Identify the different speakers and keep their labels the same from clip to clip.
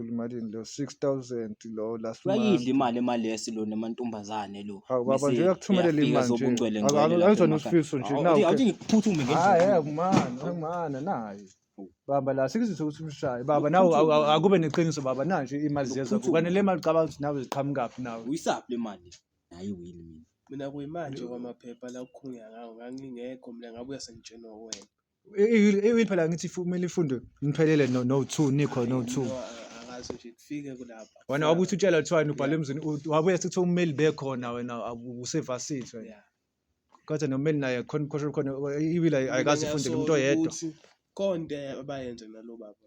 Speaker 1: Phela imalini leyo 6000 lo last month. Uyayidla imali emalesi
Speaker 2: lo namantombazane lo. Hawu baba nje uyakuthumelela
Speaker 1: imali nje. Zobungcwele
Speaker 2: ngcwele.
Speaker 1: Angizona
Speaker 2: usifiso nje nawu.
Speaker 1: Awuthi ngiphuthume ngendlela.
Speaker 2: Hayi ah, kumana,
Speaker 1: kumana nayi. Baba la sikuzise ukuthi umshaye. Baba nawe akube neqiniso baba nanje imali ziyeza. Kufanele imali cabanga ukuthi nawe ziqhamuka kuphi nawe. Uyisaphi le mali?
Speaker 2: Hayi wini mina. Mina kuyimanje
Speaker 3: kwamaphepha la kukhulunywa ngawo ngangingekho mina ngabuya sengitshenwa uwena. Iwini
Speaker 1: phela ngithi kumele ifundwe niphelele no no 2 nikho no 2. Angazi nje kufike
Speaker 3: kulapha. Wena wabuthi utshela kuthiwa
Speaker 1: wena ubhalwe emzini u- wabuya sekuthiwa ummeli bekhona wena awu- usevasithi wena. Yeah. Kodwa nommeli naye khona khona khona iwili ay- ayikaze Mina ifundele umuntu ngiyasolo oyedwa. ukuthi Konde
Speaker 3: abayenze nalo baba.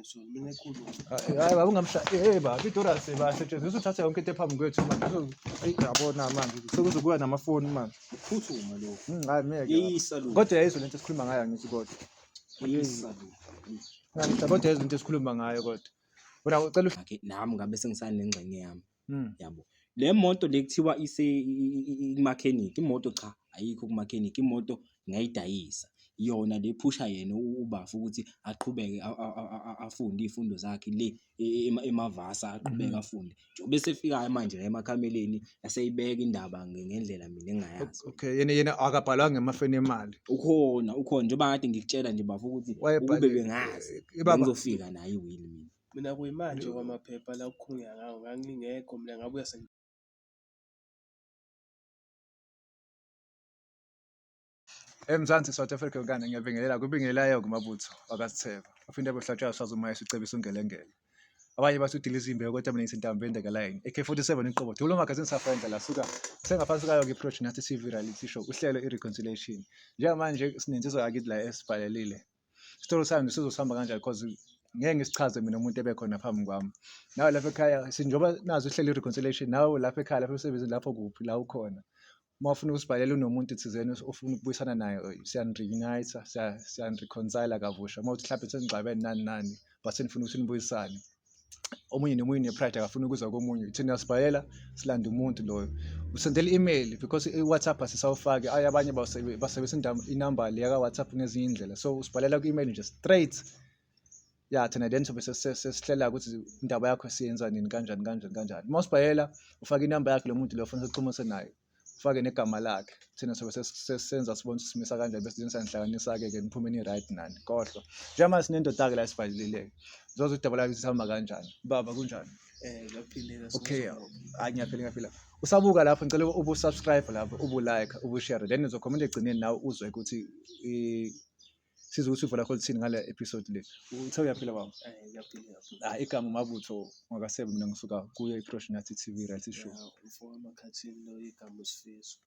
Speaker 3: hayi baba
Speaker 1: ungamshaye baba idorasi basetshenziswa uthathe yonke into ephambi kwethu manje ayi yabona manje sekuzokuba namafoni manje phuthuma
Speaker 2: lo hmm, hayi meke
Speaker 1: kodwa yayizwe
Speaker 2: lento esikhuluma ngayo
Speaker 1: ngithi kodwa kodwa yayizwe lento esikhuluma ngayo kodwa wena ucela nami ngabe
Speaker 2: sengisanengxenye yami Mm. yabo le moto le kuthiwa ise i- i- i- imakhenikhi imoto cha ayikho kumakhenikhi imoto ngayidayisa yona le phusha yena u- ubafu ukuthi aqhubeke a- a- a- a- a- afunde izifundo zakhe le e- ema- emavasa aqhubeke Mhm. afunde njengoba esefikayo manje la emakhameleni aseyibeka indaba nge- ngendlela mina engayazi okay yena yena
Speaker 1: akabhalwanga emafeni emali ukhona ukhona
Speaker 2: njengoba kade ngikutshela nje bafu ukuthi ukube bengazi bengizofika naye iwili mina Mina kuyimanje
Speaker 3: okwamaphepha la okukhulunywa ngawo ngangingekho mina ngabuya
Speaker 1: Eyi Mzansi South Africa yonkana ngiyabingelela kubingelayo-ke uMabutho wakasitheba uphinde abe uhlatshwayo sazi umaye sicebisa ungelengele abanye bathi udila izimbewu kodwa mina ngisintambo endekalayini ak-47 iqobo dulo magazini safenza la suka sengaphansi kayo ke project nathi tv reality show uhlelo i-reconciliation njengamanje sinensizwa yakithi la esibhalelile story sami sizosihamba kanjani because ngeke ngisichaze mina umuntu ebekhona phambi kwami nawe lapha ekhaya sinjengoba nazi uhleli i-reconciliation nawe lapha ekhaya lapha emsebenzini lapho kuphi la ukhona uma ufuna ukusibhalela unomuntu thizeni ofuna ukubuyisana naye siyaniriunayitha siyanirikhonsayila kabusha uma uthi mhlawumbe senigxabene nani nani but senifuna ukuthi nibuyisane omunye nomunye une-pride akafuni ukuzwa komunye thina sibhalela silanda umuntu loyo usendela i-email because i-whatsapp asisawufaki ayi abanye basebenzisa inamba le yaka-whatsapp ngezinye iy'ndlela so usibhalela kwi-email nje straight ya thina then sobe sesihlela ukuthi indaba yakho siyenza nini kanjani kanjani kanjani uma usibhalela ufake inamba yakhe lo muntu lo funa sixhumise naye ufake negama lakhe thina sobe sesenza sibona ukuthi simisa kanjani bese thina sanihlanganisa-ke ke niphume ni-right nani kohlwa njengamanje sinendoda-ke la esibhalilileke zoze udaba lakhe sihamba kanjani baba kunjani Eh,
Speaker 3: okay
Speaker 1: hayi ngiyaphila ngiyaphila usabuka lapho ngicela ubu-subscribe lapho ubu-like ubu-share then uzokhomenta egcineni nawe uzwe ukuthi siza ukuthi uvo lakho lithini ngale episode le uthe uyaphila baba ah
Speaker 3: igama umabutho
Speaker 1: ngakasebe mina ngisuka kuye iprosh nathi tv reality show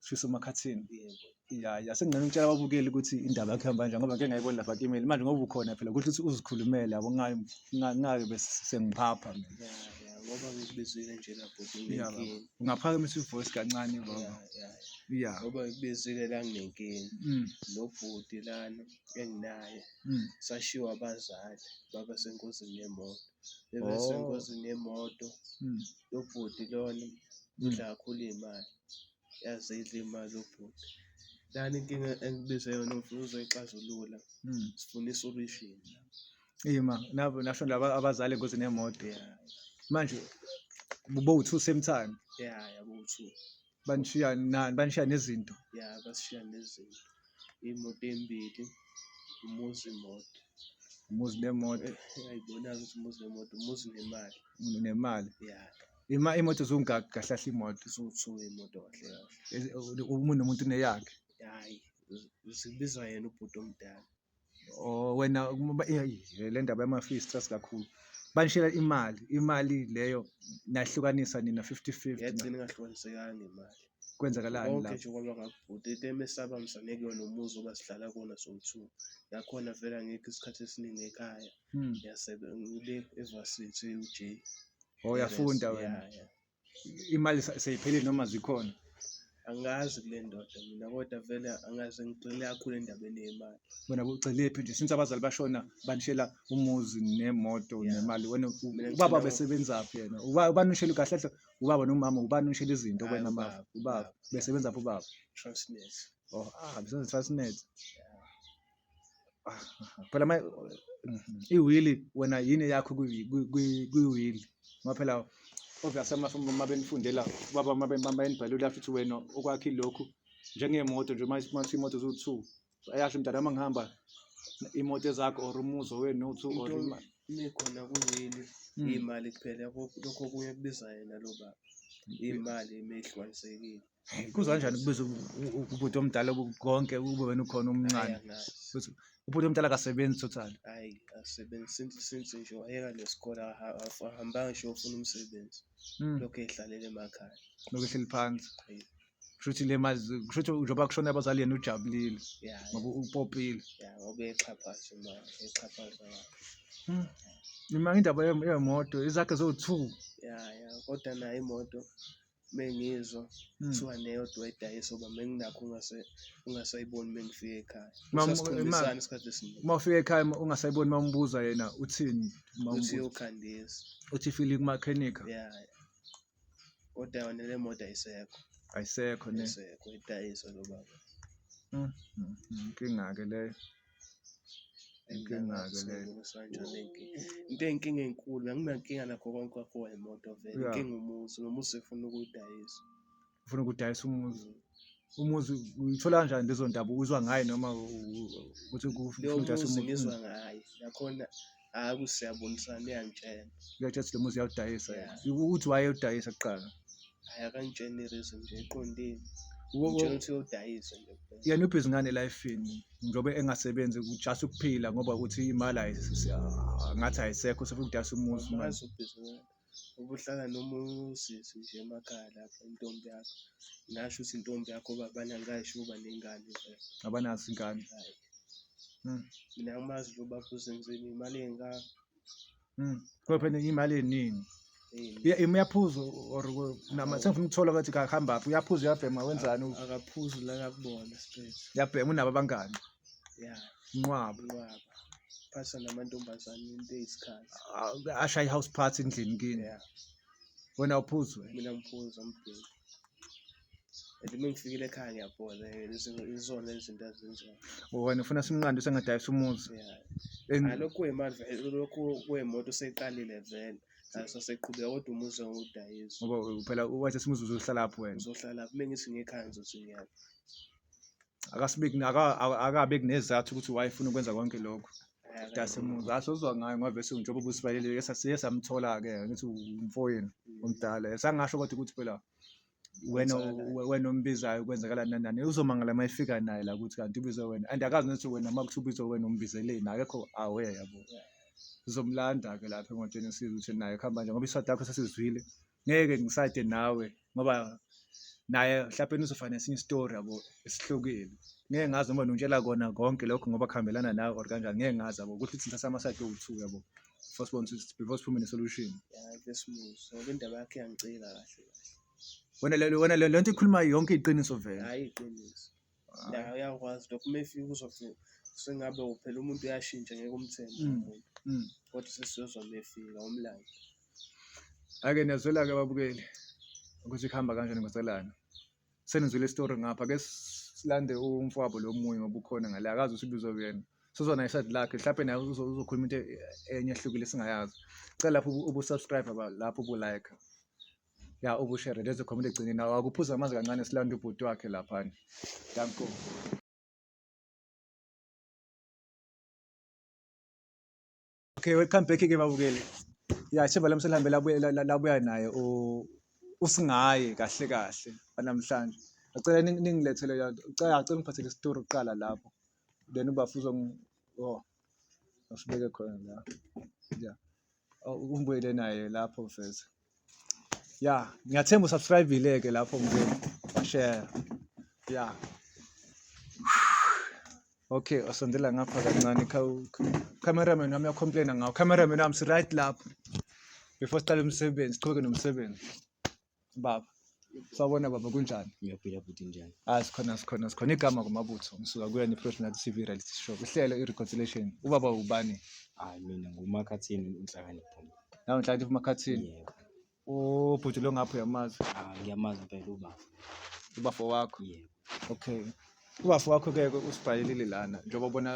Speaker 3: sifiso
Speaker 1: makhathini ya ya sengingena ngitshela ababukeli ukuthi indaba yakhe ihamba kanjani ngoba ngeke ngayibona lapha kimeli manje ngoba ukhona phela kusho ukuthi uzikhulumele yabo ngayo ngake bese sengiphapha mina ngoba
Speaker 3: ngikubizile nje lapho Ungaphakamisa ivoice
Speaker 1: kancane baba. Yeah. Ngoba
Speaker 3: ngibizile la nginenkinga. Mm. Lo bhuti lana enginaye. Mm. Sashiwa abazali baba senkosini yemoto. Bebe oh. senkosini yemoto. Mm. Lo bhuti lona mm. udla kakhulu imali. Yazi idla imali lo bhuti. Lana inkinga engibize yona uzoyixazulula. Mm. Sifuna isolishini. Ima
Speaker 1: nabo nasho laba abazali engozini yemoto yeah. manje bo two same time yeah yabo uthu
Speaker 3: banishiya
Speaker 1: nani banishiya nezinto yeah basishiya
Speaker 3: nezinto imoto embili umuzi imoto
Speaker 1: umuzi nemoto ayibona
Speaker 3: ukuthi umuzi nemoto umuzi nemali unemali
Speaker 1: yeah ima imoto zungaki kahle kahle imoto zuthu imoto kahle
Speaker 3: kahle Ezi- umuntu nomuntu
Speaker 1: uneyakhe hayi
Speaker 3: zibizwa yena ubhuti omdala Oh
Speaker 1: wena le ndaba yama-fee stress kakhulu. Banishela imali, imali leyo nahlukanisa nina 50-50. Yagcina ingahlukanisekanga
Speaker 3: imali. Kwenzakalani lapho? Konke
Speaker 1: nje kwaba
Speaker 3: ngakubhuti into emesaba msane kuyona umuzi oba sihlala kuwona sowu-two. Nakhona vele angikho isikhathi esiningi ekhaya. Hmm. Ngiyasebe ngile eVarsity uJ. Oh
Speaker 1: uyafunda wena? Yeah, yeah.
Speaker 3: imali
Speaker 1: sa- seyiphelile noma zikhona
Speaker 3: angazi kule ndoda mina kodwa vele angazi ngigxile kakhulu endabeni yemali wena ucelephi
Speaker 1: nje since abazali bashona banishela umuzi nemoto Yeah. nemali wena u-
Speaker 3: Mina ubaba
Speaker 1: ngicela-
Speaker 3: besebenzaphi
Speaker 1: yena
Speaker 3: Uba-
Speaker 1: ubani unishela kahle kahle ubaba nomama ubani unishela izinto Hayi, kwena mama ubaba, ubaba
Speaker 3: besebenzaphi
Speaker 1: ubaba transnet
Speaker 3: oh ah bisenze
Speaker 1: transnet phela ma iwili wena yini yakho kwiwili ngoba phela obviously uma benifundela baba uma benibhalile uyasho ukuthi wena okwakhe lokhu njengemoto nje uma sithi imoto ziwu-two ayasho mntana uma ngihamba imoto ezakho or umuzi owenu two or imali ikhona
Speaker 3: kuwili hmm. iy'mali kuphela lokho okunye kubiza yena lo baba iy'mali uma ehlukanisekile kuzwa kanjani
Speaker 1: kubiza ubhuti omdala konke kube wena ukhona umncane
Speaker 3: ubhuti
Speaker 1: omdala akasebenzi total hayi asebenzi
Speaker 3: since since nje wayeka nesikole ahambanga nje ufuna umsebenzi hmm. lokho ehlalele emakhaya lokho ehleli phansi
Speaker 1: kushuthi
Speaker 3: le mali
Speaker 1: kushuthi njengoba kushona abazali yena ujabulile ngoba
Speaker 3: upopile
Speaker 1: ya ngoba exhaphaza
Speaker 3: imali exhaphaza hmm.
Speaker 1: imali indaba yemoto izakhe zo-two ya ya
Speaker 3: kodwa nayo imoto mengizwa hmm. kuthiwa neyodwa edayisa uba menginakho ungasayiboni mengifika ekhaya sasikhombisana isikhathi esiningi uma ufika ekhaya
Speaker 1: ungasayiboni uma umbuza yena uthini uthi
Speaker 3: yokhandisa uthi fili
Speaker 1: kumakhenika ya
Speaker 3: kodwa yona le moto ayisekho ayisekho ne
Speaker 1: ayisekho idayisa
Speaker 3: lo baba hmm, hmm, inkinga-ke
Speaker 1: leyo Inkinga-ke
Speaker 3: le. Into eyinkinga enkulu, anginankinga nakho konke kwakho imoto vele. Yeah. Inkinga umuzi, nomuzi efuna ukuyidayisa. Ufuna ukudayisa
Speaker 1: umuzi. Umuzi uyithola kanjani lezo ndaba uzwa ngayo noma u- u- ukuthi kufuna Leyo ukudayisa muzi umuzi?
Speaker 3: ngizwa
Speaker 1: ngayo,
Speaker 3: yakhona hayi ukuthi siyabonisana uyangitshela uyathi athi le muzi
Speaker 1: uyawudayisa Yeah. ukuthi
Speaker 3: wayewudayisa
Speaker 1: kuqala hayi akangitshela
Speaker 3: i-reason nje eqondile Wo- wo- ngitshela ukuthi uyodayisa nje kuphela. yena ubhizi ngane elifini
Speaker 1: njengoba engasebenzi just ukuphila ngoba ukuthi imali ayis- ah, ngathi ayisekho sefuna ukudayisa umuzi manje Angazi ubhizinisi
Speaker 3: ubuhlala noma usisi nje emakhaya lapho intombi yakho ngasho ukuthi intombi yakho uba abanye angikayi sho uba ney'ngane vele abanazo ingane
Speaker 1: Hhayi.
Speaker 3: Mm. mina angimazi nje ubaba uzenzeni imali engaka
Speaker 1: Mm. Kodwa phela imali eningi Eyi, Iya- im- uyaphuza or ku- nama sengifuna ukuthola ukuthi kakuhambaphi uyaphuza uyabhema wenzani u- akaphuzi la
Speaker 3: kakubona straight uyabhema unabo abangani
Speaker 1: ya
Speaker 3: Nqwaba
Speaker 1: inqwaba
Speaker 3: phasa namantombazane into eyisikhathi Ah, ashaye i-house
Speaker 1: party endlini kini ya
Speaker 3: wena
Speaker 1: uphuzwe mina ngiphuza
Speaker 3: umbheki and uma ngifikile ekhaya ngiyabhola eh, izo- izona izinto azenzayo wena ufuna simnqande
Speaker 1: usengadayisa umuzi ya En- Ah, lokhu
Speaker 3: kuyimali vele lokhu kuyimoto seyiqalile vele aso seqhubeka kodwa umuzi ngudayisa ngoba phela
Speaker 1: wathi simuzi uzohlala lapho wena uzohlala lapho uma ngithi
Speaker 3: ngekhaya ngizothi ngiyaphi akasibeki aka-
Speaker 1: aka- akabe kunezathu ukuthi wayefuna ukwenza konke lokho dasemuzi asozwa ngayo ngoba bese njengoba ubusibaleleke sasiye samthola-ke ngithi umfoyeni omdala sangasho kodwa ukuthi phela wena we- wena ombizayo kwenzakala nani nani uzomangala uma efika naye la ukuthi kanti ubizwe wena and akazi nokuthi wena uma kuthi ubizwe wena umbizeleni akekho awe yabo sizomlanda-ke lapha emotweni sizwe ukuthi naye kuhamba nje ngoba iswadi yakho sasizwile ngeke ngisade nawe ngoba naye mhlawumbe uzofana nesinye isitori yabo esihlukile ngeke ngazi noma nongitshela kona konke lokho ngoba kuhambelana nawe or kanjani ngeke ngazi yabo ukuthi thina sama side owu-two yabo before sibone ukuthi before siphume ne-solution Yeah, this moves.
Speaker 3: Ngoba indaba yakhe iyangicika kahle kahle.
Speaker 1: wena le- wena le le nto ikhuluma yonke iqiniso vele Hayi iqiniso.
Speaker 3: ya uyakwazi lokho uma efika uzothi sengabe uphela umuntu uyashintsha ngeke umthembe Mm. umuntu Mm. kodwa sesiyozwa uma efika umlando
Speaker 1: Ake niyazwela-ke ababukeli ukuthi kuhamba kanjani ngoselana. Senizwile isitori ngapha ke silande umfowabo lo munye ngoba ukhona ngale akazi ukuthi ubizwa kuyena. Sizwa naye iside lakhe mhlawumbe naye uzo- uzokhuluma into e- enye ehlukile singayazi. Cela lapho ubu- ubu-subscribe ba- lapho ubu-like. ya ukushere lezo comment egcineni nawo akuphuza amanzi kancane silanda ubhuti wakhe laphana danko okay welcome back ke babukeli ya sheba lamse lihambe labuya naye usingaye kahle kahle namhlanje ngicela ningilethele yanto ngicela ngicela ngiphathele isitori kuqala lapho then ubafuzo oh asibeke khona la ya Oh, Umbuyele naye lapho mfethu. Ya, ngiyathemba usubscribe-ile ke lapho mfethu. Share. Ya. Okay, osondela ngapha kancane khawu cameraman wami uyacomplaina ngawo. Cameraman wami si right lapho. Before siqale umsebenzi, siqhubeke nomsebenzi. baba sawubona baba kunjani ngiyaphila bhuti njani
Speaker 2: hayi sikhona sikhona sikhona
Speaker 1: igama kumabutho ngisuka kuyona i-professional tv reality show kuhlelo i-reconciliation ubaba ubani hayi mina
Speaker 2: ngumakhathini unhlakanipho nawe nhlakanipho
Speaker 1: umakhathini yebo o
Speaker 2: bhuti
Speaker 1: lo ngapho uyamazi ah ngiyamazi impela
Speaker 2: ubaba ubafo
Speaker 1: wakho yebo okay ubafo wakho-ke usibhalelile lana njengoba ubona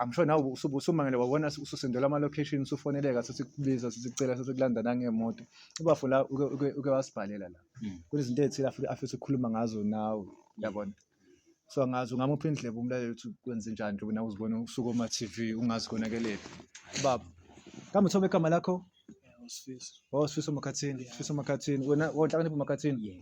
Speaker 1: i'm sure nawe usumangele wabona ususendelwa ama-location usufoneleka sesikubiza sesicela sesikulanda nangemoto ubafo la uke wasibhalela la hmm. kunezinto ezithile afisa ukukhuluma ngazo nawe yabona so angazi ungamuphi indleba umlaleli ukuthi kwenze njani njengoba nawe uzibona usuke oma-tv ungazi konakelephi baba kambe uthoba igama lakho Oh, Sifiso Makhathini, Sifiso Makhathini. Wena wonhlakanipha Makhathini. Yeah.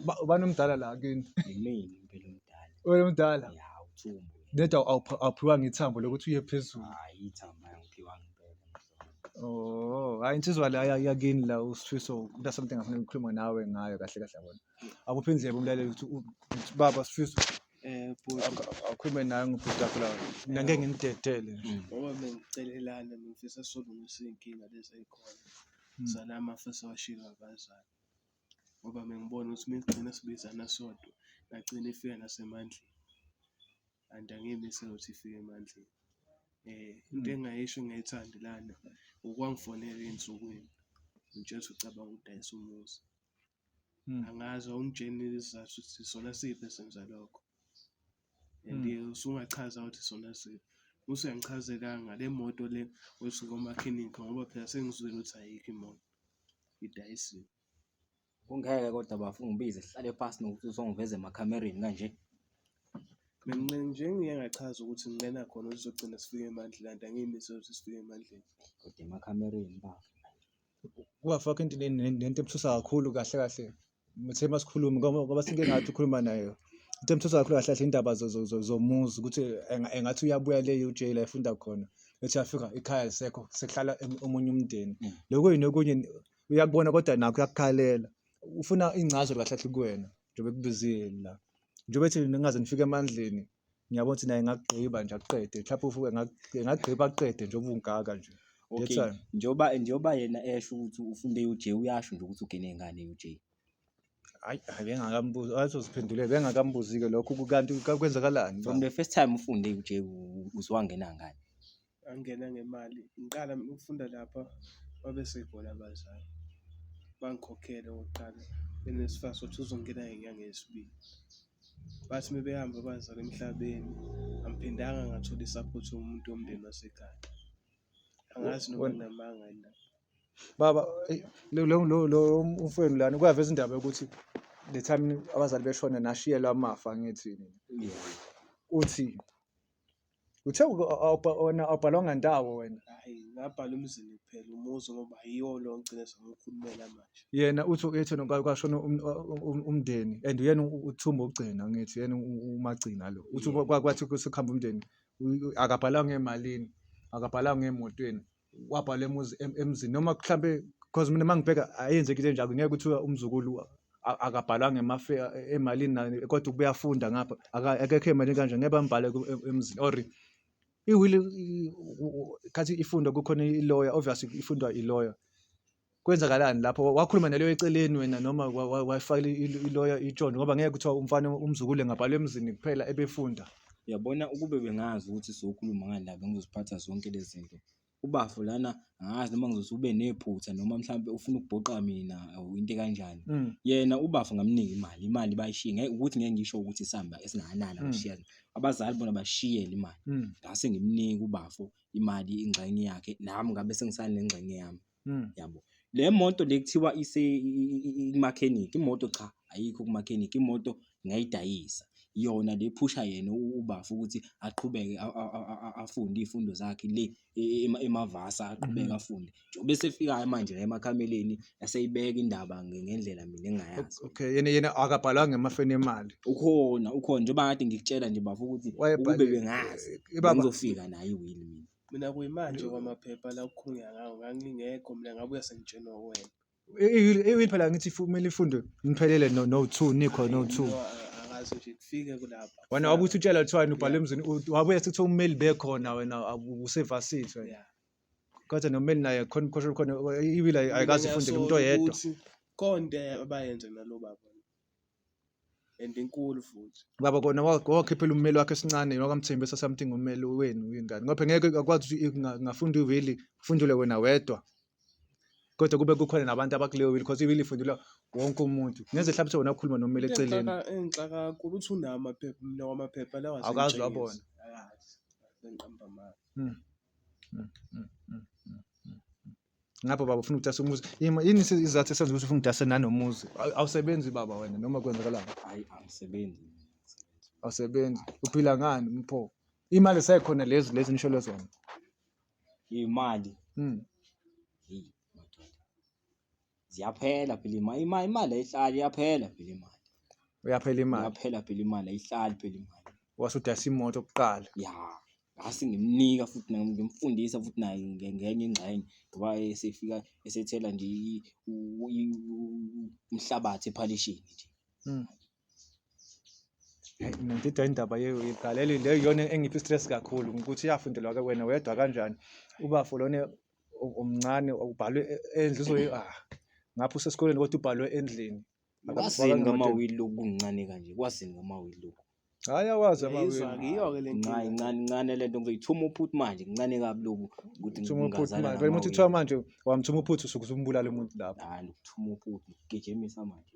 Speaker 2: Ba- Ubani
Speaker 1: omdala la kini? Yimina impela
Speaker 2: umdala. Wena omdala. Ya
Speaker 1: uthumbu.
Speaker 2: Neda awupha-
Speaker 1: awuphiwanga ithambo lokuthi uye phezulu. Hayi ithamba
Speaker 2: yangiphiwa ngempela. Oh, hayi
Speaker 1: insizwa la ya- yakini la uSifiso kuda something ngifuna ukukhuluma nawe ngayo kahle kahle yabona. Akuphi indlebe umlaleli ukuthi u- ukuthi baba Sifiso Eh bhuti akhulume naye ngibhuti akho la. Mina ngeke nginidedele. Ngoba bengicelelana
Speaker 3: ngifisa solungisa izinkinga lezi ezikhona. Sana amafisa washilo abazali. Ngoba bengibona ukuthi migcina sibizana sodwa nagcina ifika nasemandleni. And angiyimisi ukuthi ifike emandleni. Eh into engayisho engayithandi lana ukwangifonela ezinsukwini. Ngitshela ukuthi ucabanga ukudayisa umuzi. Angazi awungitsheli isizathu ukuthi isona siphi esenza lokho and hmm. usungachaza ukuthi isona siphi. Musa uyangichazelanga le moto le othi ngomakhenikha ngoba phela sengizwile ukuthi ayikho imoto, idayisiwe.
Speaker 2: Kungeke kodwa bafo ungibize sihlale phansi nokuthi uzongiveza emakhamereni kanje.
Speaker 3: Mina nje ngiye ngachaza ukuthi nginqena khona ukuthi sizogcina sifike eMandlelanda, angiyimisele ukuthi sifike eMandleni. Kodwa emakhamereni
Speaker 2: bafo. Kubafaka
Speaker 1: into nento ebuthusa kakhulu kahle kahle ngithe uma sikhuluma ngoba sike ngathi ukhuluma naye into ebuthusa kakhulu kahle kahle indaba zomuzi ukuthi engathi uyabuya le UJ la efunda khona ethi afika ikhaya lisekho sekuhlala omunye umndeni mm. lokho yini okunye uyakubona kodwa nakho uyakukhalela ufuna ingcazo kahle kahle kuwena njengoba ekubizile la njengoba ethi ningaze nifike emandleni ngiyabona ukuthi naye ngakugqiba nje akuqede mhlawumbe ufuke ngagqiba akuqede nje ubungaka nje okay
Speaker 2: njengoba njengoba yena esho ukuthi ufunde uJ uyasho nje ukuthi ugene ngane uJ hayi
Speaker 1: bengakambuzi azoziphendule bengakambuzi-ke lokho kanti kwenzakalani from the first time
Speaker 2: ufunde uJ uzwangena ngani Angena
Speaker 3: ngemali, ngiqala mina ukufunda lapha babe sekhona abazali bangikhokhele okokuqala then esifaka sokuthi uzongena ngenyanga yesibili. Bathi uma behamba abazali emhlabeni angiphindanga ngathola i-support yomuntu womndeni wasekhaya. Angazi noma Wena- nginamanga yini lapho. baba
Speaker 1: eyi, lo- lo- lo- lo umfowenu lana kuyaveza indaba yokuthi the time abazali beshona nashiyelwa amafa angithi nina uthi Uthe awubhalwanga ndawo wena. Hayi ngabhala
Speaker 3: umzini kuphela umuzi ngoba yiwo lo ngigcine sengikhulumela manje. Yena uthi uyethi
Speaker 1: kwashona um, um, um, umndeni and uyena uthumba ogcina ngithi yena umagcina lo. Uthi kwathi sekuhamba umndeni akabhalanga emalini, akabhalanga emotweni. wabhala emuzi em- emzini noma mhlampe because mina mangibheka ayenzeki into enjalo ngeke kuthiwa umzukulu a- akabhalanga emafe e- emalini nani kodwa ukuba uyafunda ngapha aka- akekho emalini kanje ngeke bambhale ku- em- emzini or iwili i- u- u- khathi ifundwa kukhona iloya obviously ifundwa iloya kwenzakalani lapho wakhuluma naleyo eceleni wena noma wayifakela iloya itshoni ngoba ngeke kuthiwa umfana umzukulu engabhalwa emzini kuphela ebefunda uyabona ukube
Speaker 2: bengazi ukuthi sokhuluma ngani la bengizoziphatha zonke lezi zinto ubafo lana angazi noma ngizothi ube nephutha noma mhlawumbe ufuna ukubhoqa mina or into ekanjani mm. yena ubafo ngamnika imali imali bayishiye ngeke ukuthi ngeke ngisho ukuthi isamba esingakanani mm. abashiya abazali bona bashiyele imali mm. ngase ngimnika ubafo imali ingxenye yakhe nami ngabe sengisanengxenye yami hmm. yabo le moto le kuthiwa ikumakhenikhi imoto cha ayikho kumakhenikhi imoto ngayidayisa yona le phusha yena ubafu ukuthi aqhubeke afunde iy'fundo zakhe le e, e, emavasa aqhubeke hmm. afunde Ube esefika-ke manje la emakameleni eseyibeka indaba nge- ngendlela mina engingayazi. Okay, yena yena
Speaker 1: akabhalwa ngemafeni emali. Ukhona, ukhona
Speaker 2: njengoba kade ngikutshela nje bafo ukuthi ukube Wayebhale bengazi Eh, ibaba bengizofika nayo iwili mina. mina kuyimanje
Speaker 3: kwamaphepha la kukhulunywa ngawo ngangingekho mina ngabuya sengitshenwa wena iwini
Speaker 1: phela ngithi ifu- kumele ifunde niphelele no no 2 nikho no 2. No, a- akazi nje
Speaker 3: kufike kulapha Wena wabuthi utshela kuthiwani
Speaker 1: ubhale emzini u- wabuya sekuthiwa ummeli bekhona wena awu- usevasithi wena. Yeah. Kodwa nomeli naye khona umkhoshela khona iwili ay- ayikaze Mina ifunde ngiyasola kumuntu oyedwa. ukuthi konde
Speaker 3: abayenze nalo baba and inkulu futhi Baba kona wa-
Speaker 1: wakhiphela ummeli wakhe esincane wakamthembisa something ummeli wenu ingane. Ngoba ngeke akwazi ukuthi inga- ingafunda iwili ufundule wena wedwa. Kodwa kube kukhona nabantu abakuleyo wili because iwili ifundulwa wonke umuntu. Ngenze hlabise wena ukhuluma nomeli Into eceleni. engixaka- engixaka kakhulu
Speaker 3: uthi unamaphepha mina wamaphepha lawa Awukaze wabona. bengiqamba amanga Hmm. mm,
Speaker 1: mm, mm, mm, mm. ngapha baba ufuna ukudasa umuzi Yima, yini isi- isizathu esenza ukuthi ufuna ukudasa nanomuzi Aw- awusebenzi baba wena noma kwenzakalani hayi angisebenzi mina, angisebenzi. awusebenzi uphila ngani mpho imali sekhona lezi lezi nisholo zona
Speaker 2: imali mm. hey madoda ziyaphela phela imali imali imali ayihlali iyaphela phela imali uyaphela imali
Speaker 1: iyaphela phela imali
Speaker 2: ayihlali phela imali wase udayisa imoto
Speaker 1: kuqala ya ngase
Speaker 2: ngimnika futhi naye ngimfundisa futhi naye nge- ngenye ingxenye ngoba esefika esethela nje i- u- i- u- umhlabathi ephalishini nje Mm.
Speaker 1: Ngidida indaba yegaleli le yona engiphi stress kakhulu ukuthi iyafundelwa ke wena wedwa kanjani ubafo lona omncane ubhalwe e, endlu uzoyi ah ngapha usesikoleni kodwa ubhalwe endlini kwasini
Speaker 2: ngamawili lokuncane kanje kwasini ngamawili lokhu hayi awazi
Speaker 1: amawili ngiyo ke le
Speaker 3: ncane ncane ncane lento
Speaker 2: ngizoyithuma uphuthu manje ncane kabi loku ukuthi ngithuma uphuthu manje uma
Speaker 1: uthi kuthiwa manje wamthuma uphuthu usuke usumbulala umuntu lapho hayi ukuthuma uphuthu
Speaker 2: gijimisa manje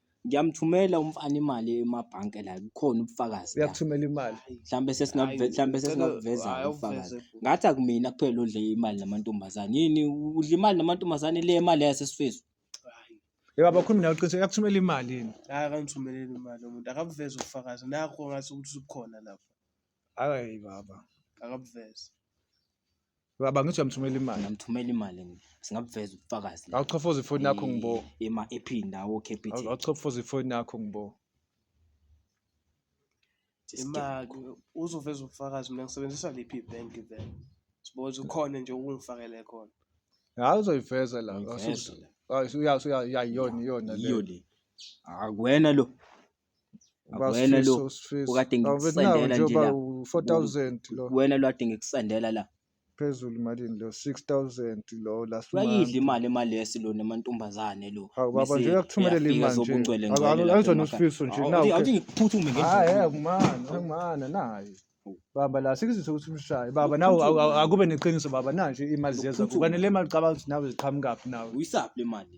Speaker 1: Ngiyamthumela
Speaker 2: umfana imali emabhanke la kukhona ubufakazi la. uyakuthumela imali
Speaker 1: Mhlambe sesingakuve
Speaker 2: Hayi, mhlambe ngicela- sesingakuveza hayi, ubufakazi. awuveze futhi. Ngathi akumina kuphela odle imali namantombazane. Yini udla imali namantombazane le imali yasesifiso. Hayi, yebo
Speaker 1: abakhulumi nawe qiniso uyakuthumela imali yini hayi akangithumeleli imali
Speaker 3: umuntu akabuveze ubufakazi nakho ngathi ukuthi ubukhona lapho hayi
Speaker 1: baba akabuveze Baba ngithi uyamthumela imali. Ngamthumela imali mina.
Speaker 2: Singabuveza ubufakazi. la. Awuchofoza ifoni yakho Eh, ngibo.
Speaker 1: Ema ephini lawo Awu-
Speaker 2: captain. Awuchofoza ifoni yakho
Speaker 1: ngibo.
Speaker 3: imali uzoveza ubufakazi mina ngisebenzisa liphi ibhenki vele siboze ukhona nje ukungifakele khona Hayi uzoyiveza
Speaker 1: la. Awusoze-
Speaker 2: Hayi uya uya iyona
Speaker 1: iyona le. Yiyo le.
Speaker 2: Akuwena lo. Uba Wena lo, uSfiso, uSfiso. ukade Awubethi ngikusendela nawo nje nje uba la.
Speaker 1: u-4000 lo wena lwade ngikusendela
Speaker 2: la phezulu malini
Speaker 1: lo 6000 lo last uyayidla month. imali emalesi
Speaker 2: lona emantombazane lo Hawu baba Mese nje uyakuthumelela
Speaker 1: eyafika imali nje. zobungcwele Awu, ngcwele awu, lapha awuzwa emakhaya. noSfiso nje Awu, nawu. awuthi ngiphuthume ngendlela
Speaker 2: Hayi yami. akumana,
Speaker 1: akumana naye. Baba la sikuzise ukuthi umshaye. Baba nawe awu- awu- akube neqiniso baba nanje imali ziyeza Uphuthume. kuba nele mali cabanga ukuthi nawe ziqhamukaphi nawe. uyisaphi le mali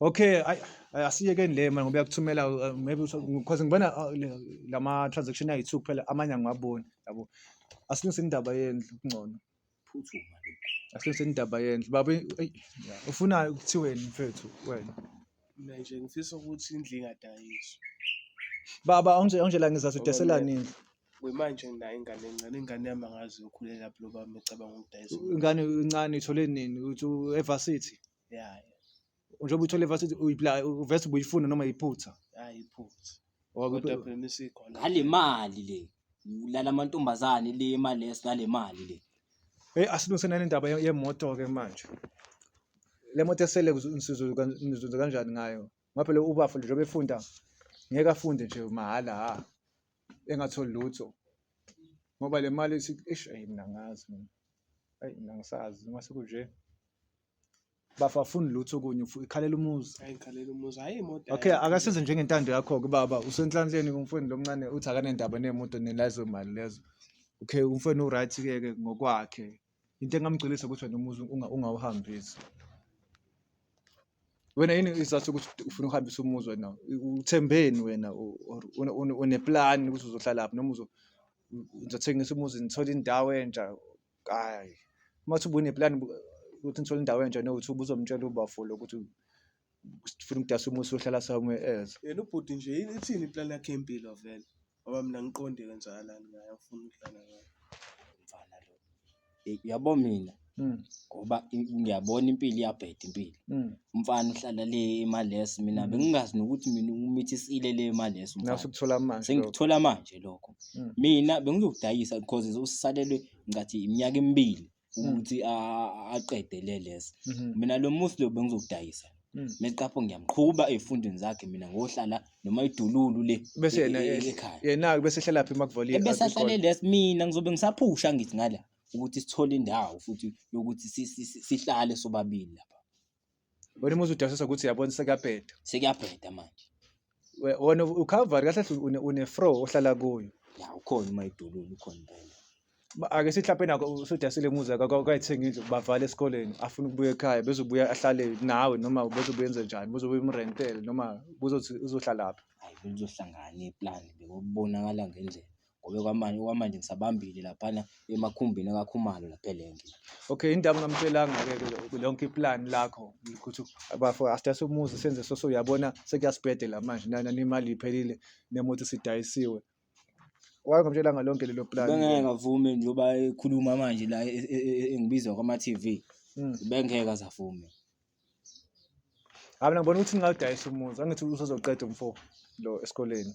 Speaker 1: Okay, ay asiyekeni le manje ngoba yakuthumela uh, maybe because ngibona uh, lama transaction ayi two kuphela amanye angiwaboni yabo. Asilungise indaba yendlu kungcono. Phuthuma
Speaker 2: lokhu. Asilungise
Speaker 1: indaba yendlu. Baba eyi ufuna ukuthiweni mfethu wena? Mina nje
Speaker 3: ngifisa ukuthi indlu ingadayiswa.
Speaker 1: Baba awunje awunje la ngizathu udeselani indlu. Kwimanje nginayo
Speaker 3: ingane encane, ingane yami angazi yokhulela lapho loba mecabanga ukudayisa. Ingane incane
Speaker 1: ithole nini? Uthi u-evarsity?
Speaker 3: yeah njengoba uthole
Speaker 1: vase uvese ubuyifuna noma yiphutha yeah yiphutha
Speaker 3: kodwa phela isikhona ngale mali le
Speaker 2: ulala amantombazane le imali esilale mali le hey asilungise nale
Speaker 1: ndaba yemoto ke manje le moto esele nizuzwe kanjani ngayo ngoba phela ubafo njengoba efunda ngeke afunde nje mahhala ha engatholi lutho ngoba le mali ish ayi mina ngazi mina ayi mina ngisazi uma sekunje bafafuni lutho okunye ufu- ikhalela umuzi Hayi ngikhalela umuzi. Hayi
Speaker 3: imoto. okay hayi. akasenze njengentando
Speaker 1: yakho-ke baba usenhlanhleni kumfweni lomncane uthi akanendaba nemoto nelazo mali lezo okay umfweni u-right-ke ke ngokwakhe into engamgculisa ukuthi wena umuzi unga- ungawuhambisi wena yini isizathu sokuthi ut- ufuna ukuhambisa umuzi wena U- uthembeni wena u- or une- une- uneplani ukuthi uzohlalaphi noma uzo- u- uzothengisa umuzi nithole indawo entsha Hhayi, uma uthi ubuneplani ukuthi ngithole indawo entsha nokuthi ubuzomtshela ubafo lo ukuthi sifuna ukudasa umusi ohlala somewhere else. Yena ubhuti nje yini
Speaker 3: ithini iplan yakhe yempilo vele ngoba mina ngiqonde kwenzakalani ngaye afuna ukudlala ngayo mfana lo
Speaker 2: Eh, uyabo mina Mm, ngoba i- ngiyabona impilo iyabheda impilo mm. umfana uhlala le emalesi mina bengingazi nokuthi mina umithisile le emalesi umfana Nasukuthola manje. lokho. sengikuthola
Speaker 1: manje
Speaker 2: lokho Mm. mina bengizokudayisa because usalelwe ngathi iminyaka emibili Mm. ukuthi a- a- aqede le lesi Mhm. mina lo musi lo bengizokudayisa Mm. meqapho ngiyamqhuba ey'fundweni zakhe mina ngohlala noma idululu le bese e- yena e- eh, ekhaya
Speaker 1: yena-ke
Speaker 2: bese ehlala phi
Speaker 1: makuvaliwe ebese ahlale lesi
Speaker 2: mina ngizobe ngisaphusha ngithi ngala ukuthi sithole indawo futhi yokuthi si- si- si- sihlale sobabili lapha Wena uma
Speaker 1: uzudasisa ukuthi yabona sekuyabheda. Sekuyabheda
Speaker 2: manje. We- Wena
Speaker 1: uCalvary kahle kahle une- unefro ohlala kuyo. Ya ukhona uma
Speaker 2: idolulu ukhona impela. Ba- Ake sihlape
Speaker 1: nako usudasile muza kwayithenga indlu bavale esikoleni afuna ukubuya ekhaya bezobuya ahlale nawe noma bezobuya enze njani bezobuya umrentele noma kuzothi uzohlalaphi. Hayi belizohlangana
Speaker 2: iplan bekubonakala ngendlela. ngoba okwamanje okwamanje ngisabambile laphana emakhumbini akakhumalo lapha elenke okay into
Speaker 1: abungamtshelanga-ke ke lonke iplan lakho ukuthi bafo asidayise umuzi senze soso uyabona sekuyasibhedela manje nana nemali iphelile nemoto isidayisiwe wayengamtshelanga lonke lelo plan bengeke ngavume njengoba
Speaker 2: ekhuluma manje la e- e- e- engibiza kwama-tv Mm. bengeke azavume
Speaker 1: hayi mina ngibona ukuthi ngingawudayisa umuzi angithi usezoqeda umfo lo esikoleni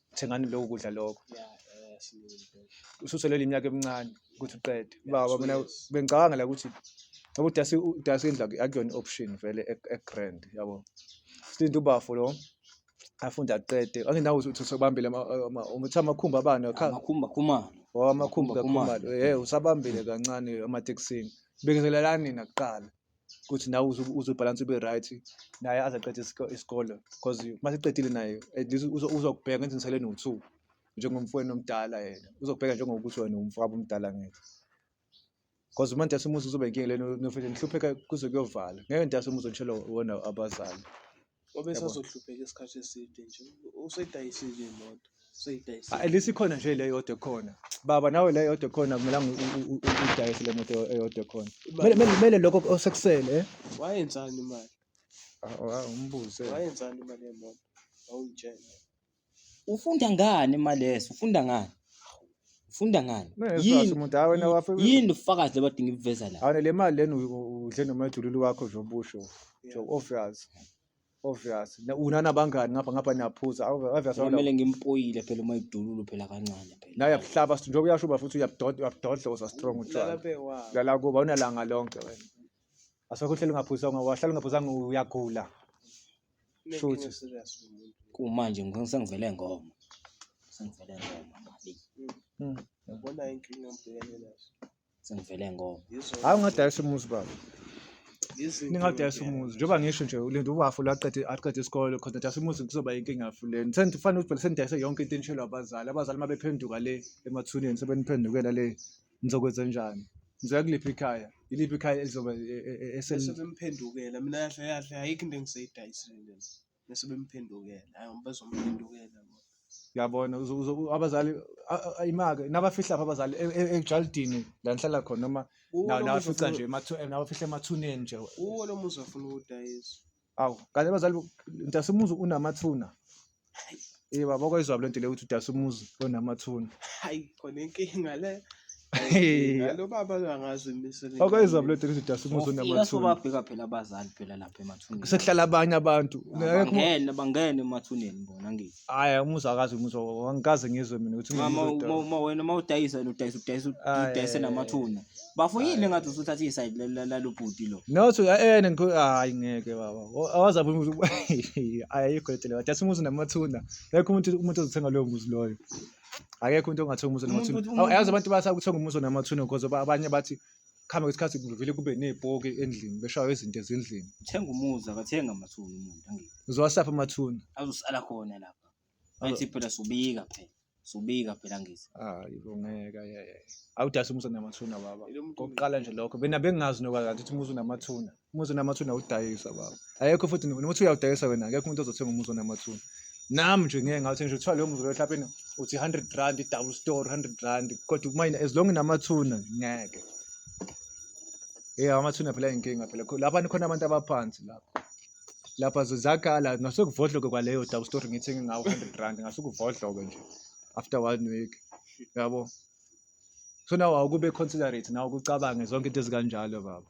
Speaker 1: thengani lokhu kudla lokho ususelele iminyaka emincane ukuthi uqede baba mina bengicabanga la ukuthi ngoba udasi udasi indlu aku- akuyona i-option vele e- e-grand yabo silinde ubafo lo afunde aqede angenawo uthi usabambile ama- ama- umuthi amakhumbi abani akha- amakhumba khumana
Speaker 2: Oh, amakhumbi Khumalo.
Speaker 1: kakhumalo ye usabambile kancane ematekisini bekezelelani nina kuqala ukuthi nawe uzobhalansa ube right naye aze aqede isikole because uma seqedile naye at least uzokubheka ngenze ngisele no-two njengomfweni omdala yena uzokubheka njengokuthi wena umfowabo omdala ngeke because uma ndase umuzi kuzoba inkinga lena nofike ngihlupheka kuze kuyovala ngeke ndase umuzi ngishelo wona abazali
Speaker 3: obesazohlupheka isikhathi eside nje usedayisile imoto useyidayisile at least
Speaker 1: ikhona nje le yodwa ekhona baba nawe le yodwa ekhona kumelanga u- u- u- u- udayise le moto eyodwa ekhona Kumele- kumele kumele lokho osekusele eh? wayenzani
Speaker 3: imali Ah, ah,
Speaker 1: umbuze wayenzani imali
Speaker 3: yemoto awungitshela
Speaker 2: Ufunda ngani maleso? Ufunda ngani? Ufunda ngani? Yini umuntu hawe na wafe. Yini ufakazi labade ngibuveza la? Hawe le mali leni
Speaker 1: udle nomajululu wakho nje obusho. Nje obvious. Obvious. Na una nabangani ngapha ngapha niyaphuza. Obvious. Kumele ngimpoyile
Speaker 2: phela uma idululu phela kancane phela. Naye yabuhlaba sithi njengoba
Speaker 1: uyashuba futhi uyabudodla uyabudodla uza strong utshwala. Lala kuba unalanga lonke wena. Asekho uhleli ungaphuzanga wahlala ungaphuzanga uyagula. Make Shuthi. me serious
Speaker 2: kumuntu. Kumanje ngifuna sengivele ngoma. Sengivele ngoma
Speaker 3: mali. Mm. Yabona inkinga ngibhekene nazo. Sengivele ngoma.
Speaker 2: Yizo Hayi ungadayisa umuzi
Speaker 1: baba. yizo Ningadayisa inkinga umuzi. Njengoba ngisho nje ulinda uwafu laqede aqede isikole khona dayisa umuzi kuzoba inkinga fuleni. Sengithi fanele ukuthi senidayise yonke into enishelwa abazali. Abazali mabephenduka le emathuneni sebeniphendukela le Ngizokwenza njani? Ngizoya kuliphi ikhaya? Yiliphi ikhaya elizobe e- e- e- esel Bese bemphendukela
Speaker 3: mina kahle kahle ayikho into engiseyidayisile lena. Bese bemphendukela hayi ngoba bazomphendukela bona. yabona
Speaker 1: uzo- uzo- abazali a- a- imake nabafihla lapha abazali e- e- ejalidini la nihlala khona noma Kuwo na- lo muzi nabafica ofuna- nje emathu- eh, nabafihle emathuneni nje kuwo lo muzi afuna
Speaker 3: ukudayisa. Awu, kanti
Speaker 1: abazali bo- Ntasumuzi unamathuna. Eh baba okwayizwa lento le ukuthi uDasumuzi onamathuna. hayi khona
Speaker 3: inkinga le Hey. lo baba angazi imisele Okwayizwa lento ukuthi
Speaker 1: uDasumuzi Ufika onamathuna. sobabheka phela abazali
Speaker 2: phela lapha emathuneni. Sekuhlala abanye abantu.
Speaker 1: Bangene bangene
Speaker 2: emathuneni bona ngithi. Hayi umuzwa akazi
Speaker 1: umuzwa wa- angikaze ngizwe mina ukuthi Uma- uma- ngizwe uma- uma wena uma
Speaker 2: udayisa wena udayisa udayisa Ayi. udayise namathuna bafo yini engathi usuthatha isayidi la- la- lalo bhuti lo No so eh ngikho
Speaker 1: hayi ngeke baba. O- Awazabe umuzi ayikho letele wathi asimuzi namathuna. Ngeke umuntu umuntu ozothenga loyo muzi loyo. Akekho umuntu ongathenga umuzi Umuntu- namathuna. umuntu- Awazi abantu basakuthenga umuzi namathuna because ba- abanye bathi kuhambe kwesikhathi kuvele kube nezipoki endlini beshaywa izinto ezindlini Thenga umuzi
Speaker 2: akathenga amathuna umuntu angeke. uzowasapha amathuna
Speaker 1: Azosala khona
Speaker 2: lapha. Wayithi phela subika phela. Subika phela ngithi. hayi bo ngeke
Speaker 1: ayeye awudayisa umuzi onamathuna baba Lo muntu kokuqala nje lokho
Speaker 3: bena
Speaker 1: bengazi nokalanti ukuthi umuzi unamathuna umuzi onamathuna awudayisa baba ayekho futhi noma uthi uyawudayisa wena akekho umuntu ozothenga umuzi onamathuna nami nje ngeke ngathi nje kuthiwa leyo muzi loyo mhlawumbe uthi 100 rand i-double store 100 rand kodwa umayini as long inamathuna ngeke eyi amathuna phela inkinga phela lapha nikhona abantu abaphansi lapho lapha zizakhala ngasekuvodloke kwaleyo double story ngithenge ngawo 100 rand ngasukuvodloke nje after one week yabo so nawe awukube considerate nawe ukucabange zonke into ezikanjalo baba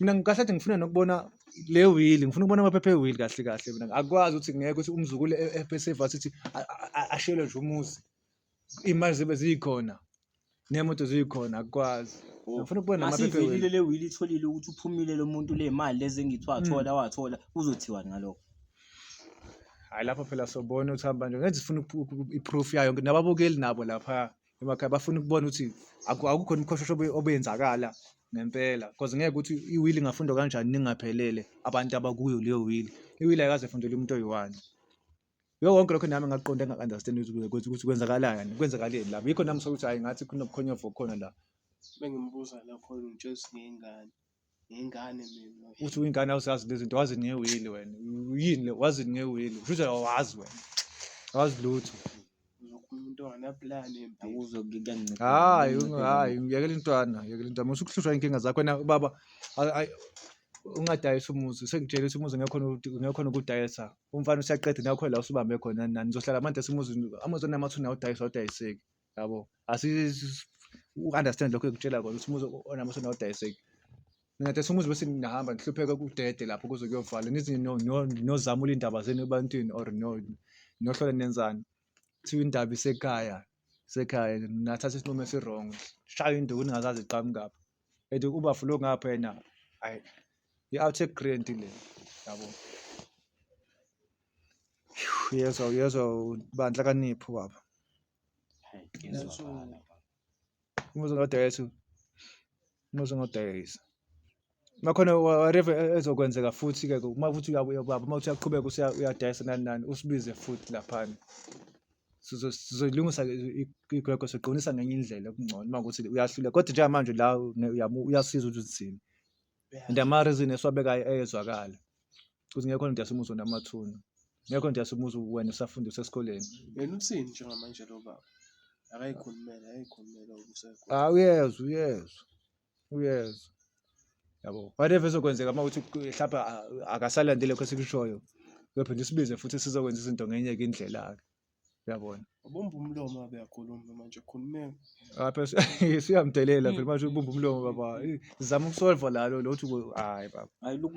Speaker 1: mina ngikahle athi ngifuna nokubona le wheel ngifuna ukubona amaphepha ewheel kahle kahle mina akwazi ukuthi ngeke ukuthi umzukulu ebeseva sithi ashele nje umuzi imali zibe zikhona nemoto zikhona akwazi oh, ngifuna ukubona amaphepha ewheel le wheel itholile ukuthi
Speaker 2: uphumile lo muntu le mali lezi engithi wathola hmm. wathola uzothiwa ngalokho
Speaker 1: hayi lapho phela sobona ukuthi hamba nje ngeke zifuna iproof yayo nababukeli nabo lapha emakhaya bafuna ukubona ukuthi akukho khona umkhoshosho obenzakala ngempela cause ngeke ukuthi iwili ingafundwa kanjani ningaphelele abantu abakuyo leyo wili iwili ayikaze fundele umuntu oyi-one yiko konke lokho nami ngakuqonda engaku-understand ukuthi ukuthi kwenzakalani kwenzakaleni lapho yikho nami sokuthi hhayi ngathi kunobukhonyovu obukhona la bengimubuza
Speaker 3: la khona ngitshela ukuthi ngeyingane. ngengane mina uthi uyingane awusazi
Speaker 1: lezinto wazi ngewili wena yini le wazi ngewili futhi awazi wena awazi lutho umuntu
Speaker 3: onganapulani akuzo kuyancika
Speaker 2: hayi hayi
Speaker 1: uyekela intwana uyekela intwana musu kuhlushwa inkinga zakho wena baba ungadayisa umuzi sengitshela ukuthi umuzi ngekho ngekho nokudayisa umfana usiyaqeda nakho la usubambe khona nani nizohlala manje simuzi amuzi onamathuna awudayisa awudayiseki yabo asi u-understand lokho engikutshela kona ukuthi umuzi onamusa nodayiseki ngathi sumuzi bese ngihamba ngihlupheka kudede lapho kuze kuyovala nithi nozama ulindaba zenu ebantwini or no nohlola nenzani kuthiwa indaba isekhaya isekhaya nathatha isinqumo esi-wrong shayo induku ningazazi iqhamukaphi and overflow ngapha yena hayi i-outtake grant le yabo uyezwa uyezwa bandla kanipho baba umuzi ngodayisa umuzi ngodayisa makhona whatever e-, ezokwenzeka futhi ke uma futhi uyabuya baba uma uthi uyaqhubeka uyadayisa nani nani usibize futhi laphana sizoyilungisa igrego siqonisa ngenye indlela okungcono uma ukuthi uyahluleka kodwa njengamanje la uyasiza ukuthi uzithini and amarizini esiwabekayo eyezwakala ukuthi ngekho nto yasimuzwa namathuna ngekho nto yasimuzwa wena usafundisa esikoleni yena uthini
Speaker 3: njengamanje lo baba akayikhulumele akayikhulumele ukusegwa ah uyezwa uyezwa
Speaker 1: uyezwa yabo whatever ezokwenzeka uma uthi mhlawumbe akasalandi lokho esikushoyo uyophinde usibize futhi sizokwenza izinto ngenye ke indlela-ke uyabona ubumba umlomo
Speaker 3: abe akhulume manje khulumeka apha
Speaker 1: siyamdelela phela manje ubumba umlomo baba zama ukusolva lalo lokuthi hayi baba hayi loku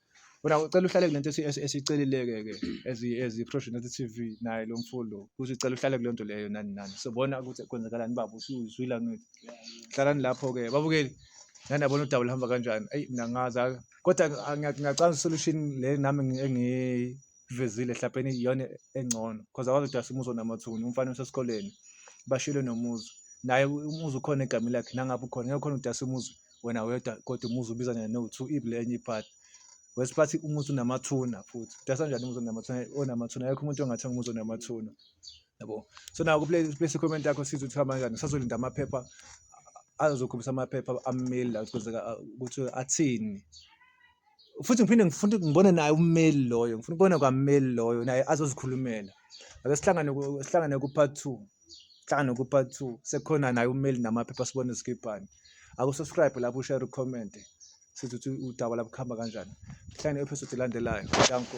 Speaker 1: Wena ucela uhlale kulento esicelileke ke as as iProvision TV naye lo mfo lo. Kuthi ucela uhlale kulento leyo nani nani. Sobona ukuthi kwenzakalani baba usuzwila ngithi. Hlalani lapho ke. Babukeli nani yabona udaba luhamba kanjani. Ey mina ngazi kodwa ngiyacanga solution le nami engivezile hlapeni iyona engcono because akwazi ukuthi asimuzo namathuni umfana usesikoleni bashilo nomuzi naye umuzi ukhona egameni lakhe nangabe ukhona ngeke khona udase umuzi wena wedwa kodwa umuzi ubiza nje no two ible enye ipart wesi bathi umuzi unamathuna futhi dasa njani umuzi unamathuna onamathuna ayekho umuntu ongathenga umuzi onamathuna yabo so naku play place comment yakho sithi uthi hamba kanjani sazolinda amaphepha azokhombisa amaphepha amile la ukuthi kwenzeka ukuthi athini futhi ngiphinde ngifuna ukuthi ngibone naye ummeli loyo ngifuna ukubona kwammeli loyo naye azozikhulumela ake sihlangane ku- sihlangane ku-part two sihlangane ku-part two sekhona naye ummeli namaphepha sibone zikibhani akusubscribe lapho ushare ucomment sithi ukuthi udaba lapho kuhamba kanjani sihlangane episode elandelayo danko